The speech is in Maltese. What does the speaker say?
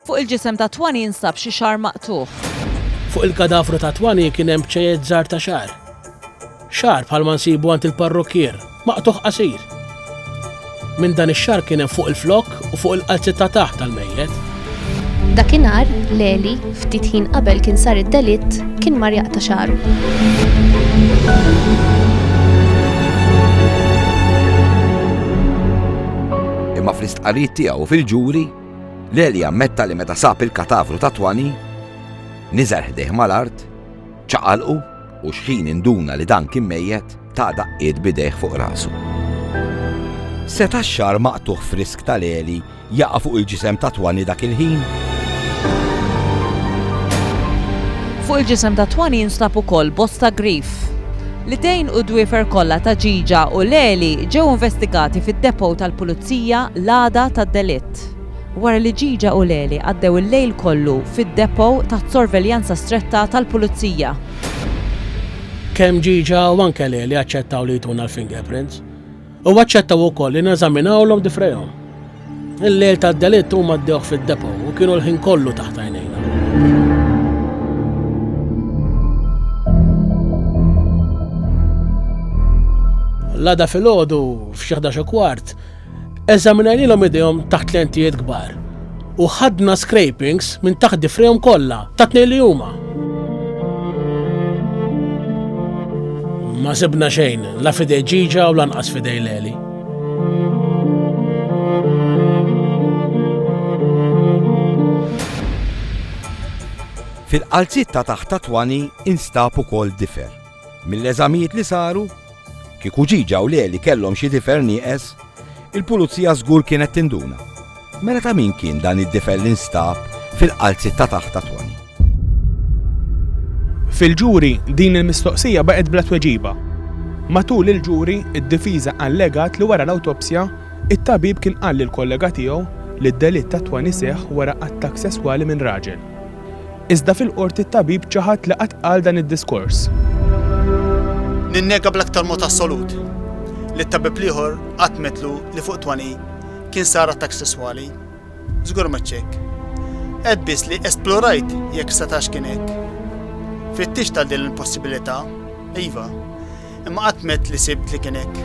Fuq il-ġisem ta' Twani jinsab xi xagħar maqtugħ. Fuq il-kadavru ta' Twani kien hemm bċejjed żgħar ta' xagħar. Xagħar bħalma nsibu għand il-parrukkier, maqtugħ qasir. Minn dan ix-xagħar kien hemm fuq il-flokk u fuq il-qalzi ta' taħt tal-mejjet. Dakinhar, Leli, ftit ħin qabel kien sar id-delitt, kien mar jaqta' xagħru. Imma fl-istqarrijiet tiegħu fil-ġuri, L-Għelja ammetta li meta sab il-katavru ta' Twani, niżel ħdejh mal-art, ċaqalqu u xħin induna li dan kien mejjet, ta daqqiet b'idejh fuq rasu. Seta' x-xagħar maqtugħ frisk ta' Leli jaqa' fuq il-ġisem ta' Twani dak il-ħin? Fuq il-ġisem ta' Twani jinstab ukoll bosta grif. L-idejn u d-dwiefer kollha ta' Ġiġa u Leli ġew investigati fid-depot tal-Pulizija l-għada tad-delitt. Wara li Ġiġa u Leli għaddew il-lejl kollu fid-depot taħt sorveljanza stretta tal-Pulizija. Kemm Ġiġa u anke Leli aċċettaw li jtuna l-fingerprints. U aċċettaw ukoll li neżaminawlhom difrejhom. Il-lejl tad-delitt huma ddewh fid-depo u kienu l-ħin kollu taħt għajnejna. l-għada fil-ħodu f'xieħda xo kwart, eżaminajnilom idejhom taħt lentijiet kbar. U ħadna scrapings minn taħt difrihom kollha, tat-tnejn li huma. Ma sibna xejn, la fidej ġiġa u lanqas fidej leli. Fil-qalziet ta' taħt ta' Twani instab ukoll difer. Mill-eżamijiet li saru, kieku Ġiġa u Leli kellhom xi difer nieqes, il-Pulizija żgur kienet tinduna. Mela ta' min kien dan id-difer li nstab fil-qalziet ta' taħt ta' Toni? Fil-ġuri, din il-mistoqsija baqgħet bla tweġiba. Matul il-ġuri, id-difiża allegat li wara l-awtopsja, it-tabib kien qal lill-kollega tiegħu li d-delitt ta' Toni seħħ wara attakk sesswali minn raġel. Iżda fil-Qorti t-tabib ċaħad li qatt qal dan id-diskors. Ninnega bl-aktar mod assolut li t-tabib l-ieħor qatt metlu li fuq Twani kien sar attakk sesswali. Żgur ma ċċekk. Qed biss li esplorajt jekk setax kien hekk. Fittix tal din il-possibilità, iva, imma qatt met li sibt li kien hekk.